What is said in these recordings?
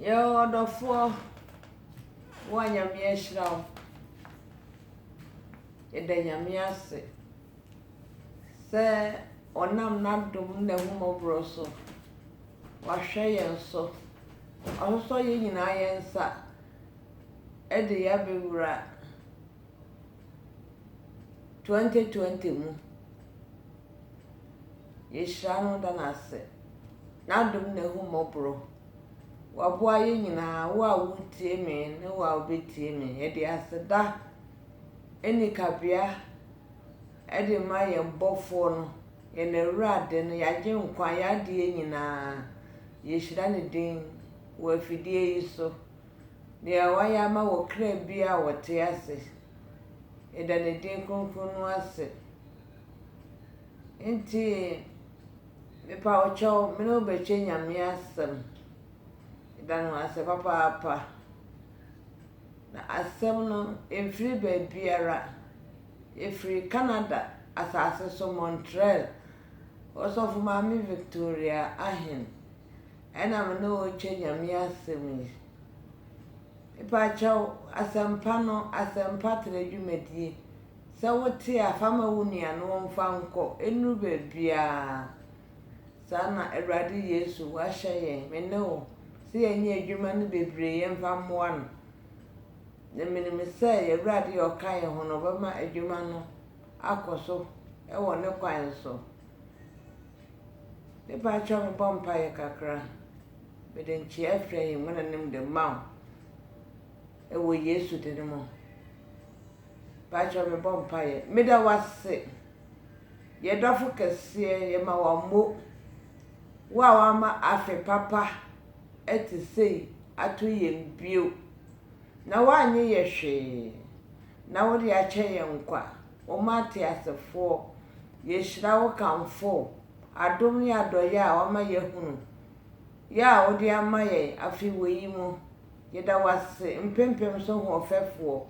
Yɛwɔ ɔdɔfoɔ, wo a Nyame ahyira wo. Yɛda Nyame ase sɛ ɔnam n'adom ne n'ahummɔborɔ so, wahwɛ yɛn so. Wasosɔ yɛn nyinaa yɛn nsa de yɛn abɛwura 2020 mu. Yehyira no da no ase. N'adom na ahummɔborɔ. Waboa yɛn nyinaa, wo a woretie me ne wo a wobɛtie me. Yɛde aseda ɛnni kabea ɛde ma yɛn bɔfoɔ no, yɛn awurade no, yɛn agyenkwa, yɛn adeɛ nyinaa. Yɛhyira ne din wɔ afidie yi so. Deɛ wayɛ ama wɔ kra biara a wɔte ase. Yɛda ne din kronkron no ase. Ntsi mepa wo kyɛw, me no wo bɛkyɛ Nyame asɛm. Meda no ase papaapa. Na asɛm no mfiri baabiara, ɛfiri Canada asase so Montreal, Ɔsɔfo Maame Victoria Ahen ɛna me ne wo rekyɛ Nyame asɛm yi. Mepa kyɛw, asɛmpa no, asɛmpa tra dwumadie. Sɛ wote a, fa ma wo nua na ɔmfa nkɔ nnuru baabiara. Saa na Awurade Yesu ahyɛ yɛn, me ne wo, sɛ yɛnyɛ adwuma no bebree yɛmfa mmoa no. Na menim sɛ yɛn Awurade a ɔka yɛn ho no, ɔbɛma adwuma no akɔ so wɔ ne kwan so. Me ba kyerɛ me bɔ mpaeɛ kakra. Mede nkyea firi ahengua no anim de ma wo. Wɔ Yesu din mu. Mpakyɛw mebɔ mpaeɛ. Meda wo ase, yɛn dɔfo kɛseɛ, yɛma wo ammo. Wo a wama afe papa te sei ato yɛn bio, na woannye yɛ hwee, na wode akyɛ yɛn nkwa. Wo mma ateasefoɔ, yɛhyira wo kamfo wo adom ne adɔeɛ a wama yɛahunu, yɛ a wode ama yɛn afe wei mu. Yɛda wo ase mpempem so hoɔfɛfoɔ,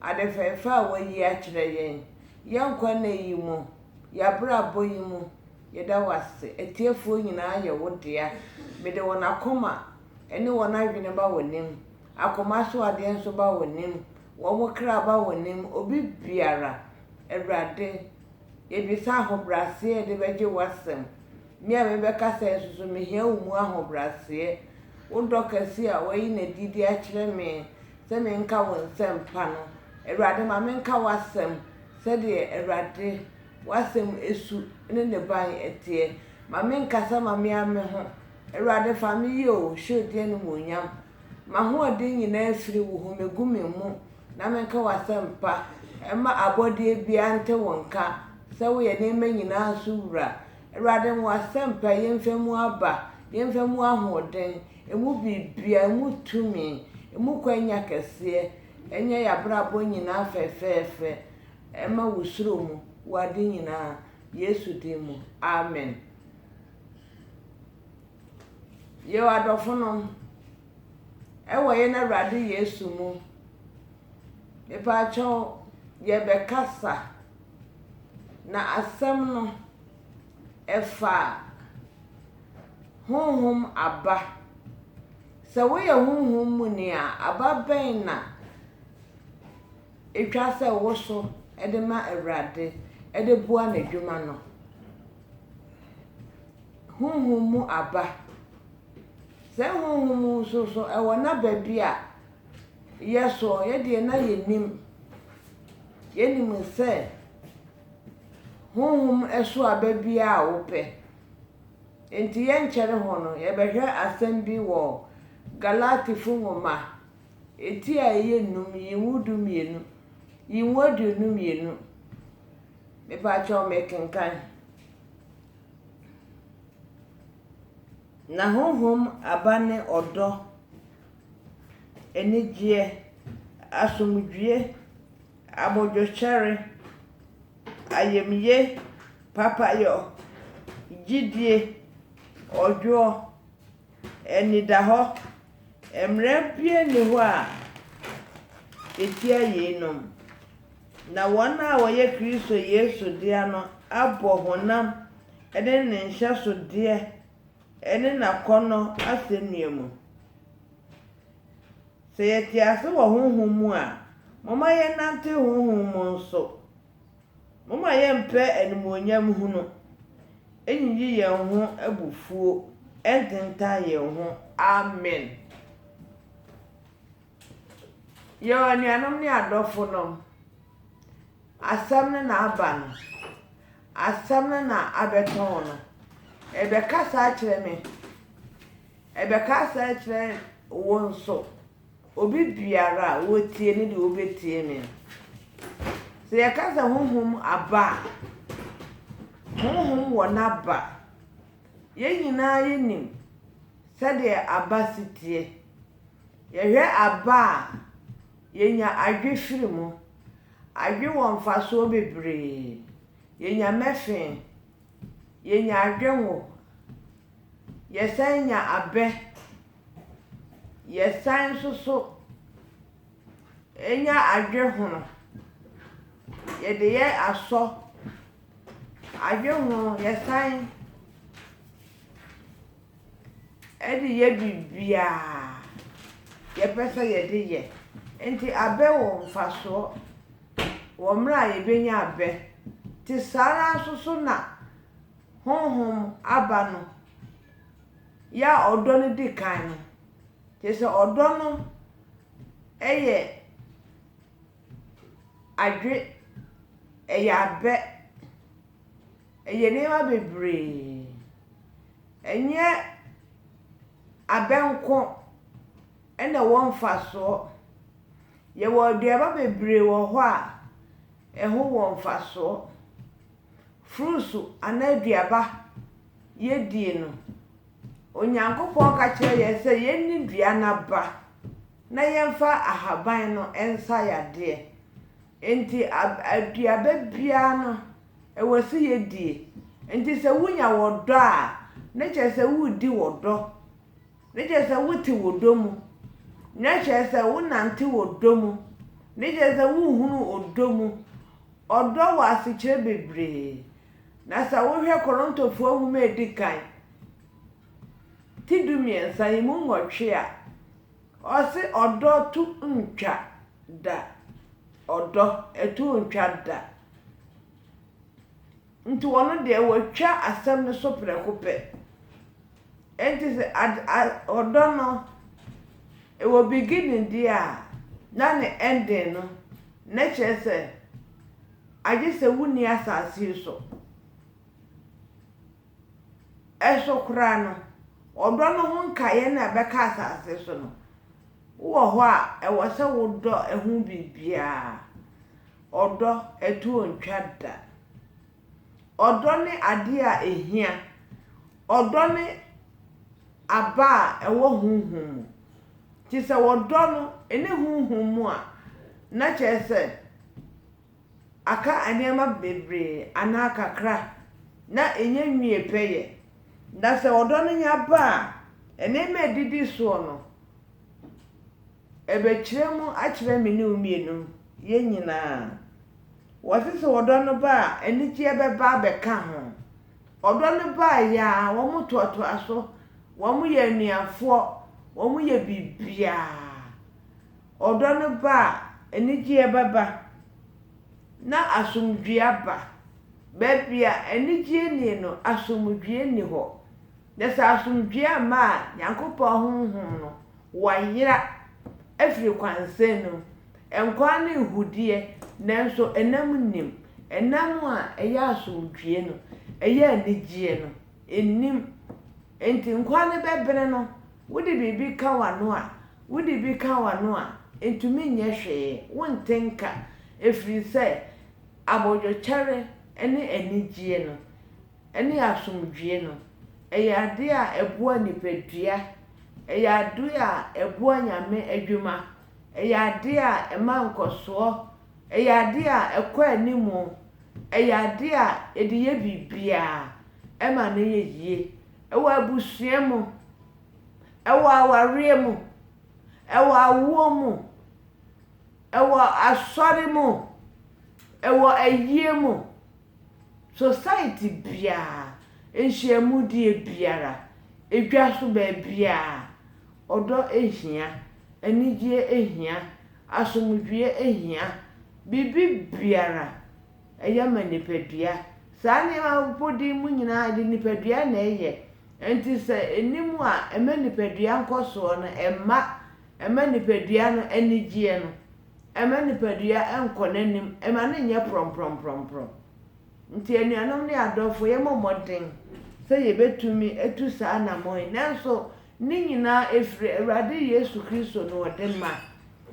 ade fɛɛfɛ a woayi akyerɛ yɛn, yɛn nkwa nna yi mu, yɛn abrabɔ yi mu. Yɛda wo ase. Atiefoɔ nyinaa yɛ wo dea. Mede wɔn akoma ne wɔn adwene ba w'anim. Akoma so adeɛ nso ba w'anim. Wɔn kra ba w'anim. Obi biara, Awurade, yɛbisa ahobrɛaseɛ a yɛde bɛgye w'asɛm. Me a mebɛka sɛɛ nso so, mehia wo mu ahobraseɛ, wo dɔ kɛseɛ a woayi no adi de akyerɛ me sɛ menka wo nsɛmpa no. Awurade, ma menka w'asɛm sɛdeɛ, Awurade, w'asɛm su ne ne ban teɛ. Ma menkasa ma me ara me ho. Awurade, fa me yɛ o, hyɛ wo din animuonyam. M'ahoɔden nyinaa firi wo ho, megu me mu na menka w'asɛmpa. Mma abɔdeɛ biara nte wo nka sɛ woyɛ nneɛma nyinaa so Wura. Awurade wo asɛmpa yɛmfa mu aba, yɛmfa mu ahoɔden, ɛmu biribia, ɛmu tumi, ɛmu kwanya kɛseɛ, ɛnyɛ yɛabrabɔ nyinaa fɛfɛɛfɛ, ɛma wo suro mu wɔ ade nyinaa, Yesu din mu, amen. Yɛwɔ adɔfo nom, ɛwɔ yɛn Awurade Yesu mu, mepaakyɛw yɛbɛkasa, Na asɛm no, ɛfa honhom aba. Sɛ woyɛ honhom mu ni a, aba bɛn na etwa sɛ woso de ma Awurade de boa n'adwuma no? Honhom mu aba. Sɛ honhom mu nso so, ɛwɔ n'aba bi a Yɛ so, yɛ deɛ na yɛnim. Yɛnim sɛ honhom so aba biara a wopɛ. Enti yɛnkyɛre ho no, yɛbɛhwɛ asɛm bi wɔ Galatifo nwoma eti a ɛyɛ nnum, yi nwo du mmienu, yi nwo aduonu mmienu. Mepakyɛw mekenkan. Na honhom aba ne ɔdɔ, anigyeɛ, asomdwoeɛ, abodwokyɛre, ayamyie, papayɔ, gyidie, ɔdwoɔ, anidahɔ. Mmara biara nni hɔ a ɛtia yeinom. Na wɔn a wɔyɛ Kristo Yesu dea no abɔ honam ne ne nhyɛsodeɛ ne n'akɔnnɔ asɛnnua mu. Sɛ yɛte ase wɔ honhom mu a, momma yɛnnante honhom mu nso. Momma yɛmmpɛ animuonyam hunu, nnyiyi yɛn ho abufuo, nntentan yɛn ho. Amen. Yow anuanom ne adɔfonom, asɛm no na aba no, asɛm no na abɛtɔn no. Ɛbɛkasa akyerɛ me, ɛbɛkasa akyerɛ wo nso. Obi biara a ɔtie no deɛ ɔbɛtie me. Sɛ yɛka sɛ honhom aba a, honhom wɔ n'aba. Yɛn nyinaa yɛnim sɛdeɛ aba si teɛ. Yɛhwɛ aba a, yenya adwe firi mu. Adwe wɔ mfasoɔ bebree. Yenya mɛfe, yenya adwe ngo, yɛsan nya abɛ, yɛsan nso so nya adwe hono. Yɛde yɛ asɔ. Adwe hono yɛsan. Ɛde yɛ biribiara yɛpɛ sɛ yɛde yɛ. Nti abɛ wɔ mfasoɔ wɔ mmerɛ a yɛbɛnya abɛ. Nti saa ara nso so na Honhom aba no yɛ a ɔdɔ no di kan no. Kyerɛ sɛ ɔdɔ no yɛ adwe, ɛyɛ abɛ. Ɛyɛ nneɛma bebree. Ɛnyɛ abɛ nko na ɛwɔ mfasoɔ. Yɛwɔ aduaba bebree wɔ hɔ a ɛho wɔ mfasoɔ. Fruits anaa aduaba yɛdie no, Onyankopɔn ka kyerɛ yɛn sɛ yɛnni dua no aba na yɛmfa ahaban no nsa yadeɛ. Enti aduaba biara no ɛwɔ sɛ yɛdie. Enti sɛ wonya wɔ dɔ a, ne kyerɛ sɛ woredi wɔ dɔ. Ne kyerɛ sɛ wote wɔ dɔ mu. Ne kyerɛ sɛ wonante wɔ dɔ mu. Ne kyerɛ sɛ wohunu ɔdɔ mu. Ɔdɔ wɔ asekyerɛ bebree. Na sɛ wohwɛ Korontofoɔ nwoma a ɛdi kan, ti du mmiɛnsa, ɛmu nwɔtwe a. Ɔse ɔdɔ to ntwa da ɔdɔ ɛto ntwa da nti ɔno deɛ watwa asɛm no so prɛko pɛ nti sɛ ɔdɔ no ɛwɔ beginning deɛ a na ne ending no na kyerɛ sɛ agye sɛ wonni asase yi so Nso koraa no, ɔdɔ no ho nkaeɛ na ɛbɛka asase so no. Wowɔ hɔ a, ɛwɔ sɛ wodɔ ɛho biribiara. Ɔdɔ, ɛtoɔ ntwa da. Ɔdɔ ne adeɛ a ɛhia. Ɔdɔ ne aba a ɛwɔ honhom mu. Nti sɛ ɔdɔ no ɛnni honhom mu a, na kyerɛ sɛ. aka nneɛma bebree anaa kakra na ɛnya nwie pɛ yɛ. Na sɛ ɔdɔ no nya ba a, nneɛma a ɛdidi soɔ no, ɛbɛkyerɛ mu akyerɛ me ne wo mmienu, yɛn nyinaa. Wɔse sɛ ɔdɔ no ba a, anigyeɛ bɛba abɛka ho. Ɔdɔ no baeɛ ara, wɔtoatoa so, wɔyɛ anuafoɔ, wɔyɛ biribiara. ɔdɔ no ba a, anigyeɛ bɛba, na asomdwoeɛ aba. Baabi a anigyeɛ nnie no, asomdwoeɛ nni hɔ. Na sɛ asomdwoeɛ amma a, Nyankopɔn Honhom no, wayera afiri kwansɛn no mu. Nkwa ne ahudeɛ, nanso ɛnam nnim. Ɛnam a ɛyɛ asomdwoeɛ no, ɛyɛ anigyeɛ no, nnim. Enti nkwa no bɛbene no. Wode biribi ka w'ano a, wode bi ka w'ano a, entumi nyɛ hwee, wonte nka, ɛfiri sɛ abodwokyɛre ne anigyeɛ no, ne asomdwoeɛ no, ɛyɛ adeɛ a ɛboa nipadua, ɛyɛ adeɛ a ɛboa Nyame adwuma, ɛyɛ adeɛ a ɛma nkɔsoɔ, ɛyɛ adeɛ a ɛkɔ anim, Ɛyɛ adeɛ a yɛde yɛ biribiara, ɛma no yɛ yie. Ɛwɔ abusua mu, ɛwɔ awareɛ mu, ɛwɔ awoɔ mu, ɛwɔ asɔre mu, ɛwɔ ayie mu, society biara, nhyiamudie biara, edwa so baabiara, ɔdɔ hia, anigyeɛ hia, asomdwoeɛ hia, Biribi biara yɛ ma nipadua. Saa nneɛma mpo de mu nyinaa de nipadua na ɛyɛ. Enti sɛ ɛnni mu a ɛma nipadua nkɔsoɔ no mma, ɛma nipadua no anigyeɛ no, ɛma nipadua nkɔ n'anim, ɛma no nyɛ prɔmprɔmprɔmprɔm. Nti anuanom ne adɔfoɔ yɛmmɔ mmɔden sɛ yɛbɛtumi atu saa anammɔn yi. Nanso ne nyinaa ɛfiri Awurade Yesu Kristo na ɔde ma.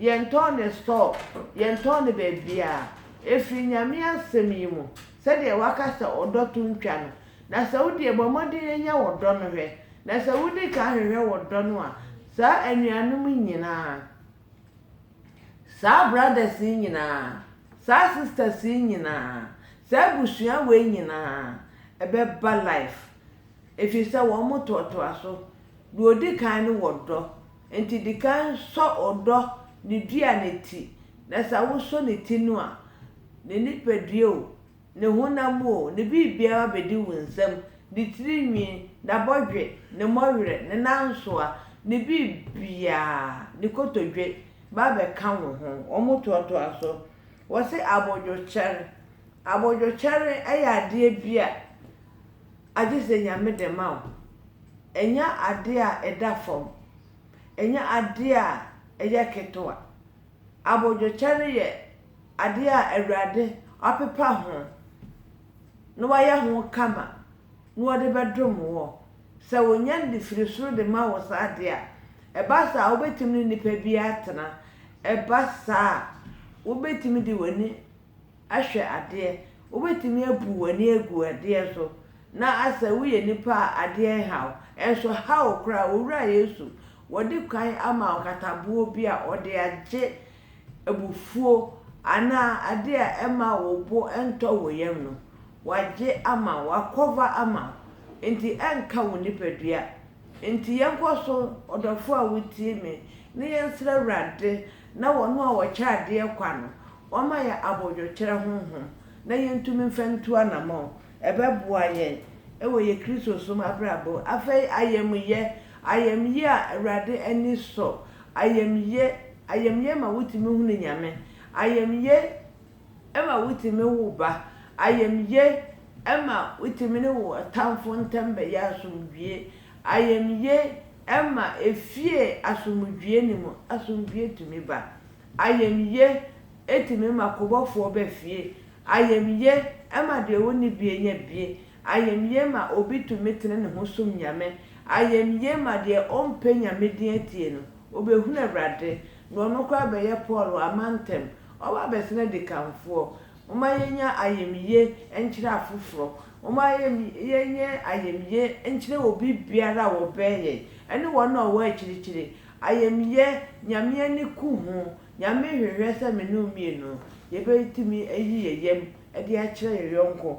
Yɛntɔn ne store, yɛntɔn no baabiara. Ɛfiri Nyame asɛm yi mu, sɛdeɛ waka sɛ ɔdɔ to ntwa no. Na sɛ wodeɛ bɔ mmɔden nya wo dɔ no hwɛ, na sɛ wodi kan hwehwɛ wo dɔ no a, saa anuanom yi nyinaa, saa brothers yi nyinaa, saa sisters yi nyinaa, saa abusua wei nyinaa ɛbɛba life. Ɛfiri sɛ wɔn toatoa so. Deɛ ɔdi kan no wɔ dɔ. Enti di kan sɔ ɔdɔ ne dua no ti, na sɛ wosɔ ne ti no a, ne nipadua o, ne honam o, ne biribiara bedi wo nsam, ne tiri nwi, n'abɔdwe, ne mmɔwerɛ, ne nansoa, ne biribiara, ne kotodwe, ba bɛka wo ho. Wɔtoatoa so. Wɔse abodwokyɛre. Abodwokyɛre yɛ adeɛ bi a agye sɛ Nyame de ma wo. Ɛnyɛ adeɛ a ɛda fam. Ɛnyɛ adeɛ a ɛyɛ ketewa. Abodwokyɛ no yɛ adeɛ a Awurade apepa ho na wayɛ ho kama na ɔde bɛdom woɔ. Sɛ ɔnya no de firi soro de ma wo saa deɛ a, ɛba saa a wobɛtumi ne nipa biara atena. Ɛba saa a, wobɛtumi de w'ani ahwɛ adeɛ, wobɛtumi abu w'ani agu adeɛ so na asɛ woyɛ nipa a adeɛ nha wo, nso ha wo koraa, Owura Yesu, wɔde kwan ama nkataboɔ bi a wɔde agye abufuo anaa adeɛ a ɛmma wo bo ntɔ wo yam no, wɔagye ama wo, wɔakɔva ama wo, nti ɛnka wo nipadua. Nti yɛnkɔ so, ɔdɔfoɔ a wotie me, na yɛnsrɛ Awurade na wɔn a wɔkyɛ adeɛ kwa no, Wɔama yɛn abodwokyerɛ honhom na yentumi mfa ntu anammɔn. Ɛbɛboa yɛn wɔ yɛn Kristosom abrabɔ mu. Afei ayamye, ayamye a Awurade ani sɔ, ayamye, ayamye ma wotumi hunu Nyame, ayamye ma wotumi wo ba, ayamye ma wotumi ne wo ɔtamfo ntam bɛyɛ asomdwie, ayamye ma efie asomdwie no mu asomdwie tumi ba. Ayamye tumi ma kɔbɔfoɔ ba fie. Ayamye ma deɛ ɔnni bie nya bie. Ayamye ma obi tumi tene ne ho som Nyame. Ayamye ma deɛ ɔmpɛ Nyame din atie no, ɔbɛhunu Awurade, na ɔno koraa bɛyɛ Paul wɔ amantam. Ɔba abɛsene adikanfoɔ. Momma yɛnya ayamye nkyerɛ afoforɔ. Momma yɛnyɛ ayamye nkyerɛ obibiara a ɔbɛn yɛn, ne wɔn a wɔwɔ akyirikyiri. Ayamyɛ, Nyame ani ku ho. Nyame hwehwɛ sɛ me ne wo mmienu yɛbɛtumi ayi yɛn yam de akyerɛ yɛn yɔnko.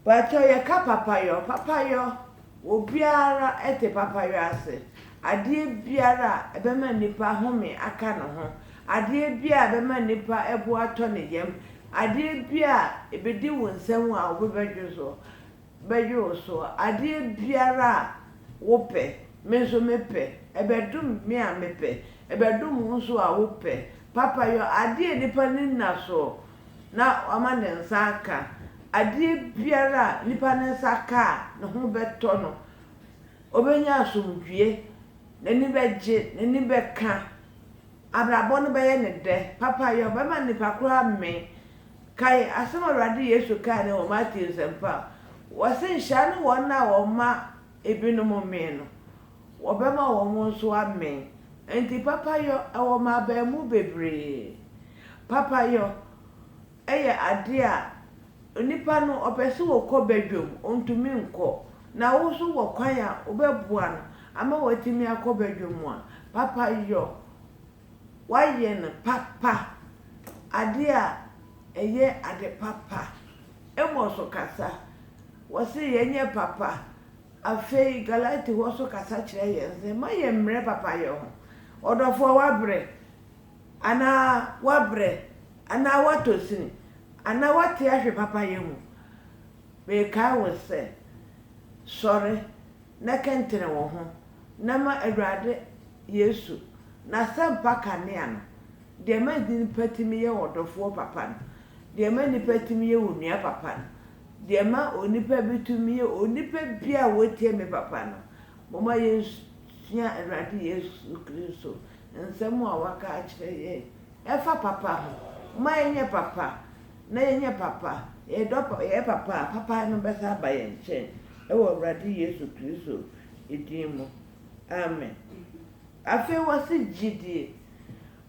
Pakyɛw yɛka papayɔ, papayɔ, obiara te papayɔ ase. Adeɛ biara a ɛbɛma nnipa ahome aka ne ho, adeɛ biara a ɛbɛma nnipa bo atɔ ne yam, adeɛ biara a ɛbɛdi wo nsam a wo bo bɛdwo so. bɛyɛ wo so adeɛ biara a wopɛ, me nso mepɛ, ɛbɛdom me a mepɛ, ɛbɛdom wo nso a wopɛ, Papa yɔ adeɛ a nnipa ani nna so na wama ne nsa aka, adeɛ biara a nnipa ne nsa ka a ne ho bɛtɔ no, ɔbɛnya asomdwoeɛ, n'ani bɛgye, n'ani bɛka. Abrabɔ no bɛyɛ no dɛ? Papayɛ, ɔbɛma nnipa koro amee. Kae asɛm a Awurade Yesu kae no wɔ Mateo Nsɛmpa a ɔse, Nhyira ne wɔn a wɔma ebinom mee no, wɔbɛma wɔn nso amee. Enti papayɔ, ɛwɔ mmabaamu bebree. Papayɔ, yɛ ade a onipa no ɔpɛ sɛ ɔkɔ badwam, ɔntumi nkɔ, na wo nso wɔ kwan a wobɛboa no ama watumi akɔ badwam a, papa yɔ. Woayɛ no papa, adeɛ a ɛyɛ ade papa. Amos so kasa, wɔse yɛnyɛ papa. Afei Galatefoɔ nso kasa kyerɛ yɛn sɛ, mma yɛmmrɛ papayɛ ho. Ɔdɔfoɔ, woabrɛ. Anaa woabrɛ, anaa woatɔ sin, anaa woate ahwe papayɛ mu, mekae wo sɛ, Sɔre na kɛntɛn wo ho, na ma Awurade Yesu n'asɛmpa kanea no, deɛ ma nnipa tumi yɛ ɔdɔfoɔ papa no, deɛ ma nnipa tumi yɛ onua papa no, deɛ ma onipa bi tumi yɛ onipa biara a ɔtie me papa no, momma yɛnsua Awurade Yesu Kristo Nsɛm a wɔaka akyerɛ yɛn ɛfa papa ho, momma yɛnyɛ papa na yɛnyɛ papa, yɛdɔ pa, yɛyɛ papa a, papa no bɛsan aba yɛn nkyɛn, wɔ Awurade Yesu Kristo din mu, amen. Afei wɔse gyidie,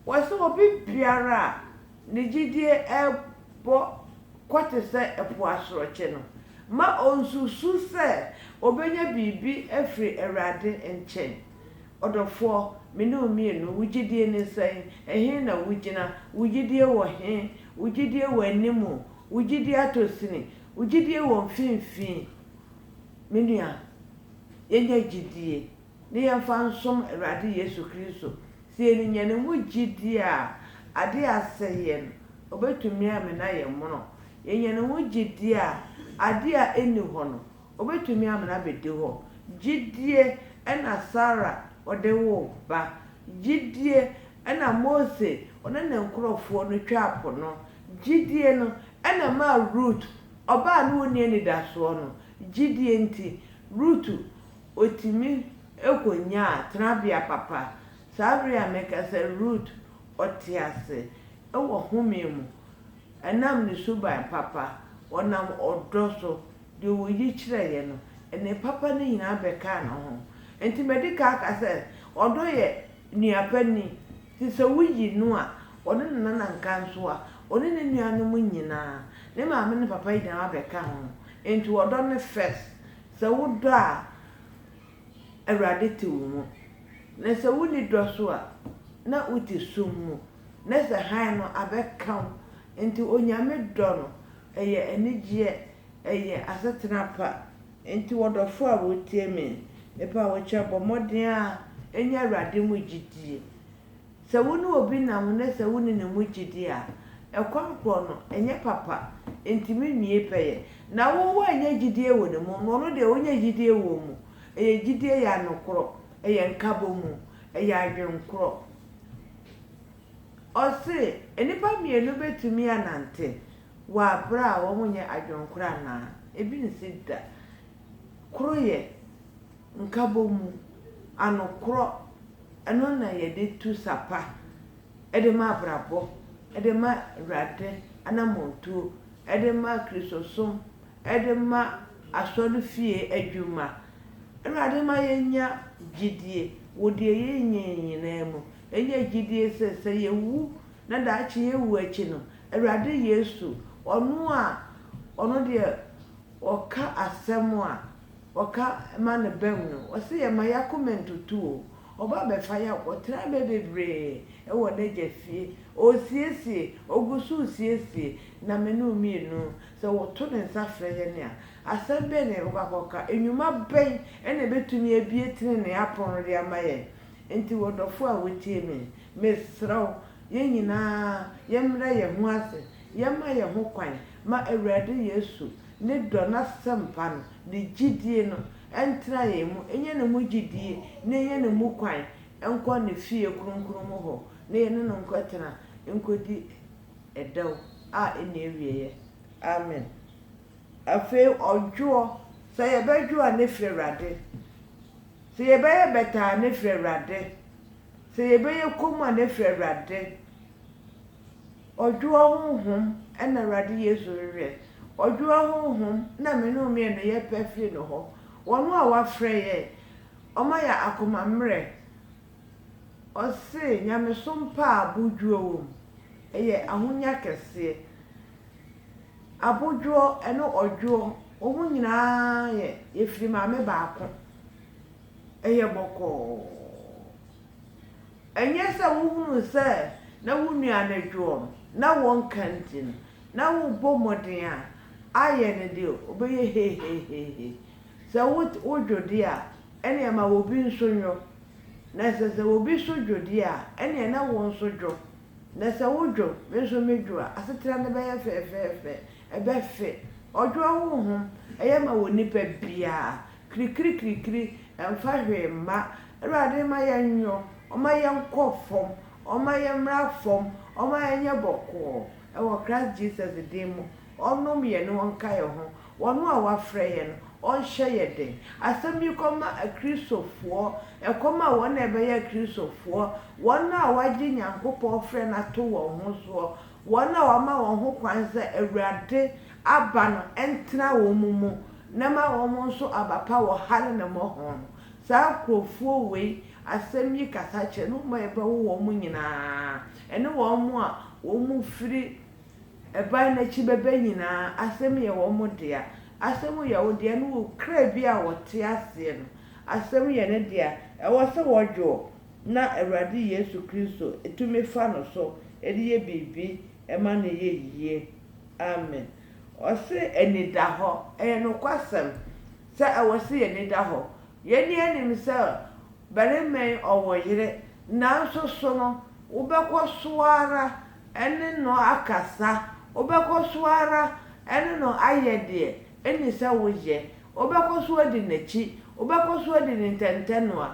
wɔse obi biara a ne gyidie ɛrebɔ kɔ te sɛ ɛpo asorɔkye no, mma ɔnsusu sɛ ɔbɛnya biribi afiri Awurade nkyɛn. Ɔdɔfoɔ, me ne wo mmienu, wo gyedie ne sɛn? Ɛhe na wogyina? Wo gyedie wɔ he? Wo gyedie wɔ anim o, wo gyedie atɔ sini, wo gyedie wɔ mfimfini. Me nua, yɛnya gyedie na yɛmfa nsom Awurade Yesu Kristo. Sɛ yɛnya Ne mu gyedie a, adeɛ a asɛ yɛn, Ɔbɛtumi amena yɛn mono. Yɛnya Ne ho gyedie a, adeɛ a ɛnni hɔ no, Obetumi amena abedi hɔ. Gyidie na Sara ɔde woo ba. Gyidie na Mose ɔne ne nkorɔfoɔ no twaa po no. Gyidie no na ɛmaa Rut, ɔbaa a na ɔnni anidasoɔ no, gyidie nti, Rut ɔtumi kɔnyaa tenabea papa. Saa berɛ yi a mereka sɛ Rut ɔte ase wɔ home mu, ɛnam ne suban papa, ɔnam ɔdɔ so, Deɛ ɔyi kyerɛeɛ no, ɛnee papa no nyinaa bɛkaa ne ho. Enti madi kan aka sɛ, ɔdɔ yɛ nua panin. Enti sɛ woyi no a, ɔne ne nana nka nso a, ɔne ne nuanom nyinaa, ne maame ne papa nyinaa abɛka ho. Enti ɔdɔ no first. Sɛ wodɔ a, Awurade te wo mu. Na sɛ wonni dɔ so a, na wote sum mu. Na sɛ hann no abɛka wo. Enti Onyame dɔ no, Ɛyɛ anigyeɛ, ɛyɛ asetena pa. Enti wɔdɔfoɔ a wotie me, mepa wo kyɛw, bɔ mmɔden ara nya Awurade mu gyidie. Sɛ wo ne obi nam ho na sɛ wonni ne mu gyidie a, ɛkɔm korɔ no, ɛnyɛ papa, ɛntumi nwie pɛyɛ. Na wo woannya gyidie wɔ ne mu, na ɔno deɛ ɔnya gyidie wɔ wo mu. Ɛyɛ gyidie, ɛyɛ anokorɔ, ɛyɛ nkabɔmu, ɛyɛ adwenkorɔ. Ɔse nnipa mmienu bɛtumi anante wɔ aberɛ a wɔn nyɛ adwenkoro anaa? Ebi nsi da. Koro yɛ nkabɔmu, anokorɔ, ɛno na yɛde tu sa pa de ma abrabɔ, de ma Awurade anamɔntuo, de ma Kristosom, de ma asɔrefie adwuma. Awurade ma yɛnya gyedie wɔ deɛ yɛnyɛ nyinaa mu. Yɛnya gyidie sɛ, sɛ yɛwu na daakye yɛwu akyi no, Awurade Yesu, ɔno a ɔno deɛ ɔka asɛm a ɔka ma no bam no, ɔse yɛn mma yɛn akoma ntutu o, ɔba bɛfa yɛn akɔtra mmerɛ bebree wɔ n'Agya fie. Ɔresiesie, ɔgu so resiesie na me ne wo mmienu, sɛ wɔto ne nsa frɛ yɛn a, asɛm bɛn na yɛbɛkɔ akɔka? Nnwuma bɛn na ɛbɛtumi abue tenenee apono no de ama yɛn? Enti w'ɔdɔfo a wotie me, mesrɛ wo, yɛn nyinaa yɛmmrɛ yɛn ho ase, yɛmma yɛn ho kwan ma Awurade Yesu ne dɔ n'asɛmpa no ne gyidie no ntena yɛn mu, ɛnyɛ ne mu gyidie na ɛnyɛ ne mu kwan nkɔ ne fie kronkron mu hɔ na yɛne no nkɔtena nkɔdi ɛdɛw a ɛnni awieɛ. Amen. Afei ɔdwoɔ, sɛ yɛbɛdwo a ne firi Awurade. Sɛ yɛbɛyɛ bɛtɛ a, na ɛfiri Awurade, sɛ yɛbɛyɛ komm a, na ɛfiri Awurade. Ɔdwoɔ honhom na Awurade Yesu hwehwɛ. Ɔdwoɔ honhom na me ne wo mmienu yɛpɛ firi ne hɔ. Ɔno a wafrɛ yɛn, ɔma yɛn akoma mmerɛ, Ɔse nyamesom pa a abodwoɔ wɔ mu, ɛyɛ ahonya kɛseɛ. Abodwoɔ ɛne ɔdwoɔ, wɔn nyinaa yɛ, yɛfiri maame baako. Ɛyɛ bɔkɔɔ. Ɛnyɛ sɛ wohunu sɛ na wo nua no dwoɔ no, na wɔnka nti no, na wobɔ mmɔden a, ayɛ no deɛ ɔbɛyɛ hehehehe. Sɛ wo wo dwo de a, ɛneɛ ma obi nso nwo, na sɛ sɛ obi so dwo de a, ɛneɛ na wo nso dwo, na sɛ wo dwo, me nso me dwo a, asetena no bɛyɛ fɛɛfɛɛfɛ, ɛbɛ fe. Ɔdwoɔ honhom, ɛyɛ ma wɔ nipa biaa, krikirikirikiri, ɛmfa hwee mma. Awurade mma yɛn nwo, ɔmma yɛn nkɔ fam, ɔmma yɛn mmra fam, ɔmma yɛn nyɛ bɔkɔɔ, ɛwɔ Christ Jesus din mu. Ɔnom yɛn na ɔnka yɛn ho. Ɔno a wafrɛ yɛn no, ɔnhyɛ yɛn den. Asɛm yi kɔma Akristofoɔ, ɛkɔm a wɔn a ɛbɛyɛ Akristofoɔ, wɔn a wɔagye Nyankopɔn frɛ no ato wɔn ho soɔ, wɔn a wɔama wɔn ho kwan sɛ Awurade aba no ntena wɔn mu na ma wɔn nso aba pa wɔ ha ne ne mmɔho no. Saa nkurɔfoɔ wei, asɛm yi kasa kyerɛ, ne wɔn a ɛbɛwo wɔn nyina ara, ɛne wɔn a wɔfiri Ɛbae na akyi bɛbɛ nyinaa asɛm yɛ wɔn dea. Asɛm yɛ wo dea no wɔ kra bi a ɔte aseɛ no. Asɛm yɛ ne dea. Ɛwɔ sɛ wɔdwoɔ na Awurade Yesu Kristo tumi fa no so de yɛ biribi ma no yɛ yie. Amen. Ɔse anidahɔ. Ɛyɛ nokwasɛm sɛ ɛwɔ sɛ yɛn ani da hɔ. Yɛn nyinaa nim sɛ barima yi ɔwɔ yere nanso so no wobɛkɔ so ara. ne no akasa, wobɛkɔ so ara ne no ayɛ deɛ ɛnni sɛ woyɛ, wobɛkɔ so adi n'akyi, wobɛkɔ so adi ne ntɛntɛnoa.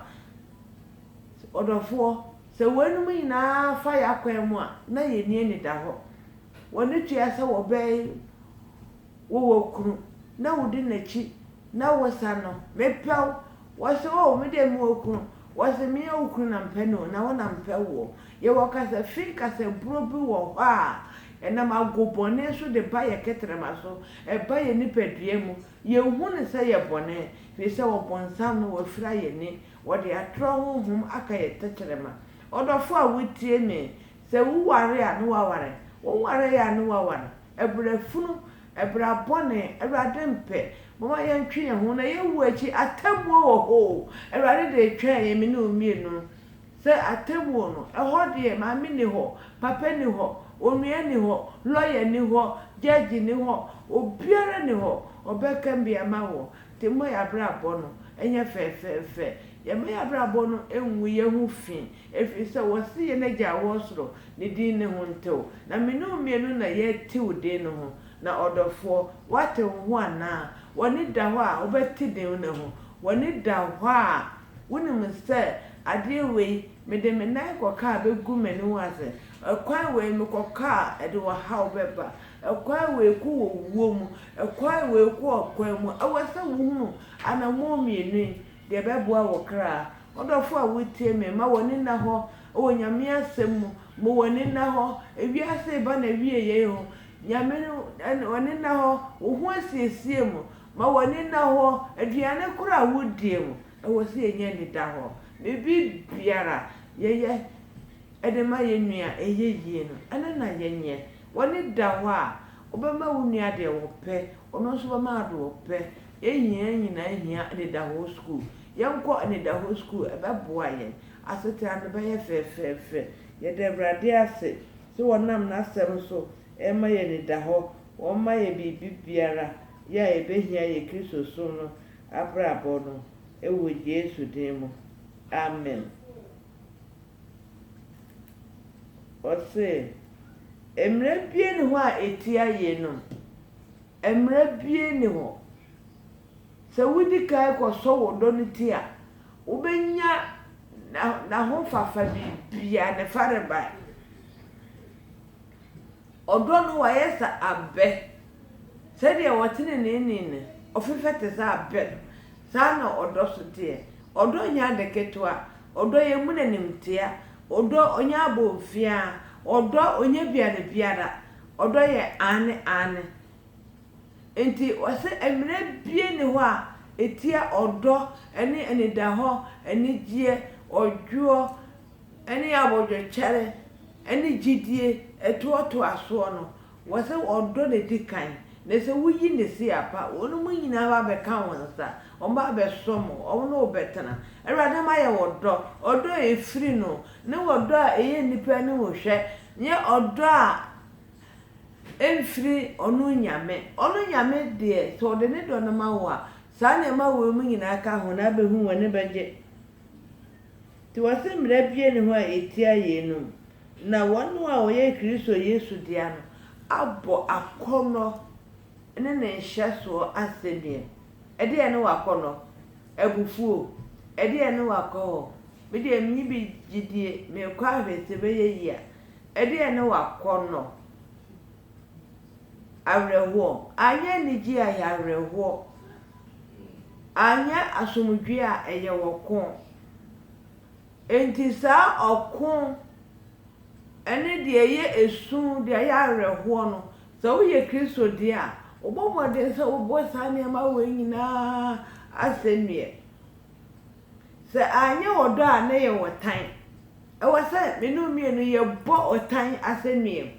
Ɔdɔfoɔ, sɛ weinom nyinaa fa yɛn akwan mu a, na yɛn ani anida hɔ. W'ani tua sɛ wɔbɛn wo wɔ kunu, na wodi n'akyi, na wosa no, Mepɛ wo! Wɔse, Oh, me deɛ mewɔ kunu. Wɔse, Menyɛ wo kunu na mepɛ no o, na wo na mepɛ woɔ. Yɛwɔ kasafi nkasaburo bi wɔ hɔ a ɛnam agobɔne so de ba yɛn kɛtrɛma so, ɛba yɛn nipadua mu. Yɛnhu no sɛ ɛyɛ bɔne, firi sɛ ɔbonsam no wafira yɛn ani, ɔde atorɔ honhom aka yɛn tɛkyerɛma. Ɔdɔfoɔ a wotie me, sɛ wo ware a ne waware, wo nware a ne waware. Ɛberɛ funu, ɛbra bɔne, Awurade mpɛ. Momma yɛntwe yɛn ho na yɛnwu akyi, atemmuo wɔ hɔ o, Awurade de retwɛn yɛn me ne wo mmienu. Sɛ atemmuo no, ɛhɔ deɛ maame nni hɔ, papa nni hɔ, onua nni hɔ, lɔya nni hɔ, gyɛɛgye nni hɔ, obiara nni hɔ, ɔbɛka bi ama wo. Nti mmɔ yɛn abrabɔ no nyɛ fɛɛfɛɛfɛ. Yɛmma yɛn abrabɔ no ngu yɛn ho fi, ɛfiri sɛ wɔse yɛn Agya a ɔwɔ soro ne din ne ho ntew. Na me ne wo mmienu na yɛatew din no ho. Na ɔdɔfoɔ, woatew ho anaa? W'ani da hɔ a wobɛte din no ho? W'ani da hɔ a Wonim sɛ adeɛ wei, mede me nan kɔka a bɛgu m'aniwa ase, ɛkwan wei mekɔka a ɛde ɔhaw bɛba, ɛkwan wei kɔ wɔ wuo mu, ɛkwan wei kɔ ɔkwan mu, ɛwɔ sɛ wohunu anammɔn mmienu yi deɛ ɛbɛboa wo kra. Ɔdɔfoɔ a wotie me, ma w'ani nna hɔ wɔ Nyame asɛm mu, ma w'ani nna hɔ, ewiase reba n'awieɛ yi ho, Nyame no, Ɔne nna hɔ, wo ho asiesie mu, Ma w'ani nna hɔ. Aduane koro a wodie mu, ɛwɔ sɛ yɛnya anidahɔ. Biribi biara yɛyɛ de ma yɛn nua a ɛyɛ yie no, ɛno na yɛnyɛ. W'ani da hɔ a, wobɛma wo nua deɛ ɔpɛ, ɔno nso bɛma wo deɛ ɔpɛ. Yɛn hia nyinaa hia anidahɔ sukuu. Yɛnkɔ anidahɔ sukuu, ɛbɛboa yɛn. Asetena no bɛyɛ fɛfɛɛfɛ. Yɛda Awurade ase sɛ ɔnam N'asɛm so rema yɛn anidahɔ. Wɔmma yɛ biribi biara yɛ a yɛbɛhia yɛ Kristosom no abrabɔ no wɔ Yesu din mu, amen. Ɔse, mmara biara nni hɔ a ɛtia yeinom, mmara biara nni hɔ. Sɛ wodi kan kɔsɔ wo dɔ no ti a, wobɛnya N'ahofafa biribiara, Ne farebae. Ɔdɔ no wɔayɛ sɛ abɛ. Sɛdeɛ ɔteneneeni no, ɔfefɛ te sɛ abɛ no, saa ara na ɔdɔ nso teɛ. Ɔdɔ nyɛ ade ketewa. Ɔdɔ yɛ muna animtia. Ɔdɔ ɔnyɛ abomfiaa. Ɔdɔ ɔnyɛ biane biara. Ɔdɔ yɛ aane aane. Enti wɔse mmerɛ bie nni hɔ a ɛtia ɔdɔ ne anidahɔ, anigyeɛ, ɔdwoɔ, ne abodwokyɛre ne gyidie toatoasoɔ no, wɔ sɛ ɔdɔ na ɛdi kan, na sɛ woyi ne se a pa, wɔn mu nyinaa ba bɛka wo nsa, wɔn ba bɛsom wo, wɔn ne wo bɛtena. Awurade ama yɛ wɔ dɔ, ɔdɔ a ɛfiri no, ne ɔdɔ a ɛyɛ nnipa anim hwɛ, nyɛ ɔdɔ a ɛmfiri ɔno Nyame. Ɔno Nyame deɛ sɛ ɔde ne dɔ no ma wo a, saa nneɛma wei mu nyinaa ka ho na abɛhu wo ani bɛgye. Nti wɔse mmara biara nni hɔ a etia yeinom, na wɔn a wɔyɛ Kristo Yesu dea no abɔ akɔnnɔ ne ne nhyɛsoɔ asɛnnua. Ɛdeɛn ne w'akɔnnɔ? Abufuo? Ɛdeɛn ne w'akɔhɔ? Me deɛ menni bi gyidie, merekɔ ahwɛ sɛ ɛbɛyɛ yie a. Ɛdeɛn ne w'akɔnnɔ? awerɛhoɔ, anyɛ anigyeɛ a ɛyɛ awerɛhoɔ, anyɛ asomdwoeɛ a ɛyɛ ɔko. Enti saa ɔko ne deɛ ɛyɛ esu, deɛ ɛyɛ awerɛhoɔ no, sɛ woyɛ Kristo deɛ a, wobɔ mmɔden sɛ wobɔ saa nneɛma wei nyinaa asɛnneɛ. Sɛ anyɛ ɔdɔ a na ɛyɛ ɔtan. Ɛwɔ sɛ me ne wo mmienu yɛbɔ ɔtan asɛnnuam.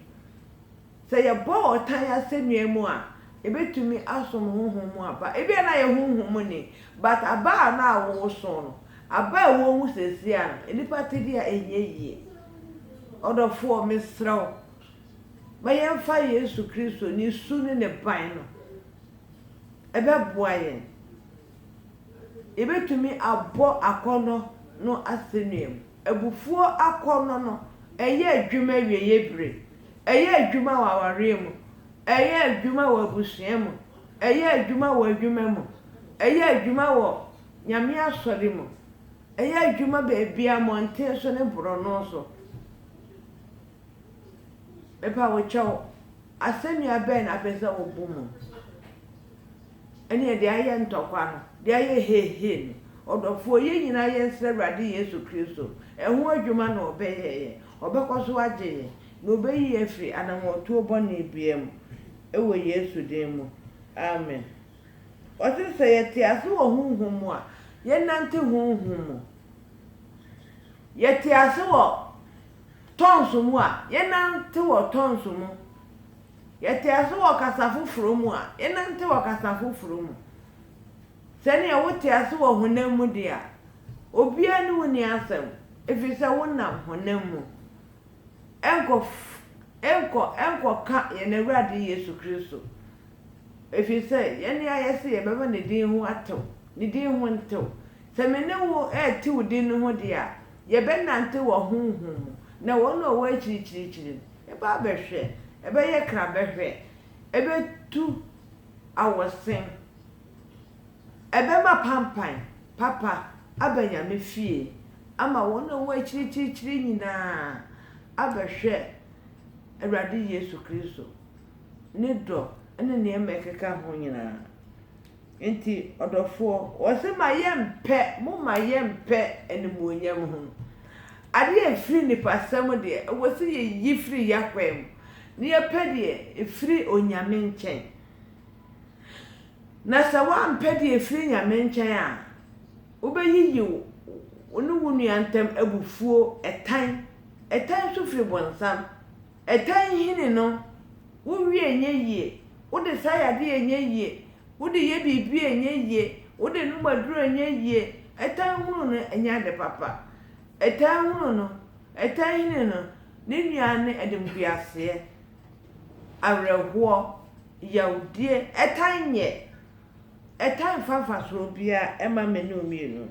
Sɛ yɛbɔ ɔtan asɛnnuam a, yɛbɛtumi asom honhom mu aba. Ebia na yɛ honhom mu ni, but aba a na woso no, aba a ɛwɔ mu seesei ara no, nnipa te deɛ a ɛnyɛ yie. Ɔdɔfoɔ, mesrɛ wo, ma yɛmfa Yesu Kristo ne su ne ne ban no. Ɛbɛboa yɛn. yɛbɛtumi abɔ akɔnnɔ no asɛnnua mu. Abufuo akɔnnɔ no, ɛyɛ adwuma awieeɛ berɛ. Ɛyɛ adwuma wɔ awareɛ mu. Ɛyɛ adwuma wɔ abusua mu. Ɛyɛ adwuma wɔ adwuma mu. Ɛyɛ adwuma wɔ Nyame asɔre mu. Ɛyɛ adwuma baabiara, mmɔnten so ne borɔno so. Mepa wo kyɛw, asɛnnua bɛn na wopɛ sɛ wobɔ mu? Ɛneɛ deɛ ayɛ ntɔkwa no, deɛ ayɛ heehee no, ɔdɔfoɔ, yɛn nyinaa yɛnsrɛ Awurade Yesu Kristo, ɛho adwuma na Ɔbɛyɛ yɛn, Ɔbɛkɔ so agye yɛn, na Ɔbɛyi yɛn afiri anammɔntuo bɔne biara mu, wɔ Yesu din mu, amen. Ɔse sɛ yɛte ase wɔ honhom mu a, yɛnnante honhom mu. Yɛte ase wɔ tɔnso mu a, yɛnnante wɔ tɔnso mu. Yɛte ase wɔ kasa foforo mu a, yɛnante wɔ kasa foforo mu. Sɛnea wote ase wɔ honam mu de a, obiara ne wo nni asɛm, efisɛ wonam honam mu. Ɛnkɔ ɛnkɔ ɛnkɔka yɛn Awurade Yesu Kristo, efisɛ yɛne a yɛse yɛbɛma ne din ho atew, ne din ho ntew. Sɛ me ne wo retew din no ho de a, yɛbɛnante wɔ honhom mu, na wɔn a wɔwɔ akyirikyirikyiri no, Ɛbɛ abɛhwɛ, ɛbɛyɛ kra bɛhwɛ, ɛbɛtu awɔsen, ɛbɛma pampan papa aba Nyame fie ama wɔn a wɔwɔ akyirikyirikyiri nyinaa abɛhwɛ Awurade Yesu Kristo, ne dɔ ne nneɛma ɛkeka ho nyinaa. Enti ɔdɔfoɔ, ɔse ma yɛmpɛ, moma yɛmpɛ animuonyam ho adeɛ a ɛfiri nipasɛm deɛ, ɛwɔ sɛ yɛyi firi y'akwan mu, na yɛpɛ deɛ ɛfiri Onyame nkyɛn. Na sɛ woampɛ deɛ ɛfiri Nyame nkyɛn a, wobɛyiyi wo ne wo nua ntam abufuo, ɛtan. Ɛtan nso firi bonsam, Ɛtan hini no, wo wie ɛnyɛ yie, wo de sa yadeɛ ɛnyɛ yie, wo de yɛ biribi ɛnyɛ yie, wo de nom aduro ɛnyɛ yie, ɛtan hunu no ɛnyɛ ade papa. Ɛtan hunu no, ɛtan hini no, ne nua ne animguaseɛ, awerɛhoɔ, yawdie, ɛtan nyɛ. Ɛtan mfa mfasoɔ biara mma mene wo mmienu.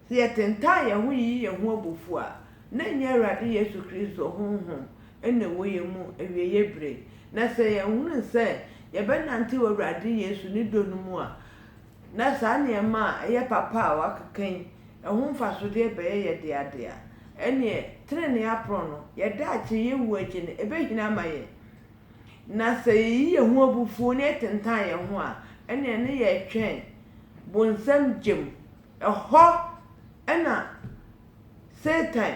Sɛ yɛtentan yɛn ho yiyi yɛn ho abufuw a, na ɛnyɛ Awurade Yesu Kristo honhom na ɛwɔ yɛn mu awieeɛ bere. Na sɛ yɛhunu sɛ yɛbɛnantew Awurade Yesu ne dɔ no mu a, na saa nneɛma a ɛyɛ papa a wɔakeka yi ho mfasodeɛ bɛyɛ yɛn dea dea. Ɛnneɛ, trenee aporɔw no, yɛn daakye, yɛn wu akyi no, ɛbɛhini ama yɛn. Na sɛ yɛyi yɛn ho abufuo na yɛtentan yɛn ho a, ɛnneɛ na yɛretwɛn bonsam gya mu. Ɛhɔ na Satan,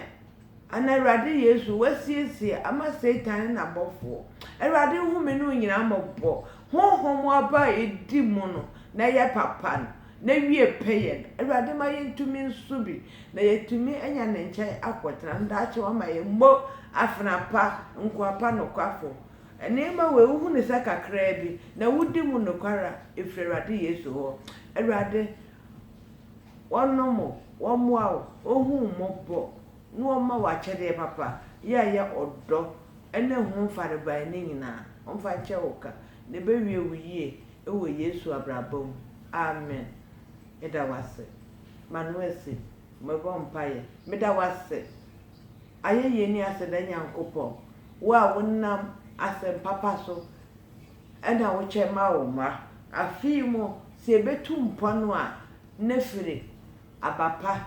anaa Awurade Yesu, wasiesie ama Satan ne n'abɔfoɔ. Awurade nhome no nyinaa mmɔbɔ. Honhom aba a ɛdi mu no, na ɛyɛ papa no, na wie pɛyɛ no. Awurade ma yɛntumi nso bi, na yɛatumi anya ne nkyɛn akɔtena no daakye. Wama yɛn mo, afena pa, nkoa pa, nokwafoɔ. Nneɛma wei, wohu ne sɛ kakraa bi, na wodi mu nokware a, ɛfiri Awurade Yesu hɔ. Awurade, Wɔnom o, wɔmmoa wo, wɔnhu wo mmɔbɔ, na wɔmma wo akyɛdeɛ papa, yɛ a ɛyɛ ɔdɔ ne ho farebae no nyinaa, wɔmfa nkyɛ wo ka, na ɛbɛwie wo yie wɔ Yesu abrabɔ mu. Amen. Meda wo ase. M'ano asi. Mebɔ mpaeɛ. Meda wo ase, Ayɛyie ne Aseda Nyankopɔn, wo a wonam asɛm papa so Ɛna wokyɛ ma wo mma. Afei mo, sɛ yɛbɛtu mpɔn a, na firi aba pa,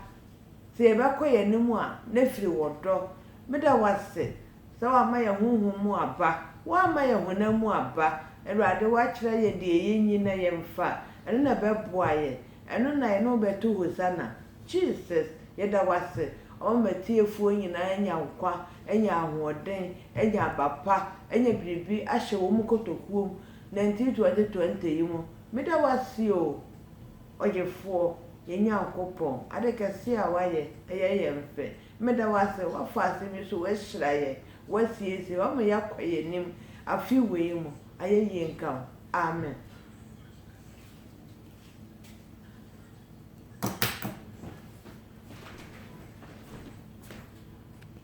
sɛ yɛbɛkɔ yɛn anim a, na firi wɔ dɔ. Meda wo ase sɛ woama yɛn honhom mu aba, woamma yɛn honam mu aba. Awurade, woakyerɛ yɛn deɛ yɛnyi na yɛmfa, ɛno na ɛbɛboa yɛn, ɛno na yɛne wo bɛto Hosanna. Jesus, yɛda wo ase, ɔma m'atiefoɔ nyinaa nya nkwa, anya ahoɔden, anya aba pa, anya biribi ahyɛ wɔn kotokuo mu, nanti twenty twenty yi mu, meda wo ase o, Ɔgyefoɔ, yɛn Nyankopɔn, ade kɛseɛ a woayɛ, ɛyɛ yɛn fɛ, meda wo ase, woafa asɛm yi so, woahyira yɛn, woasiesie, woama yɛakɔ yɛn anim afe wei mu, ayɛyie nka wo, amen.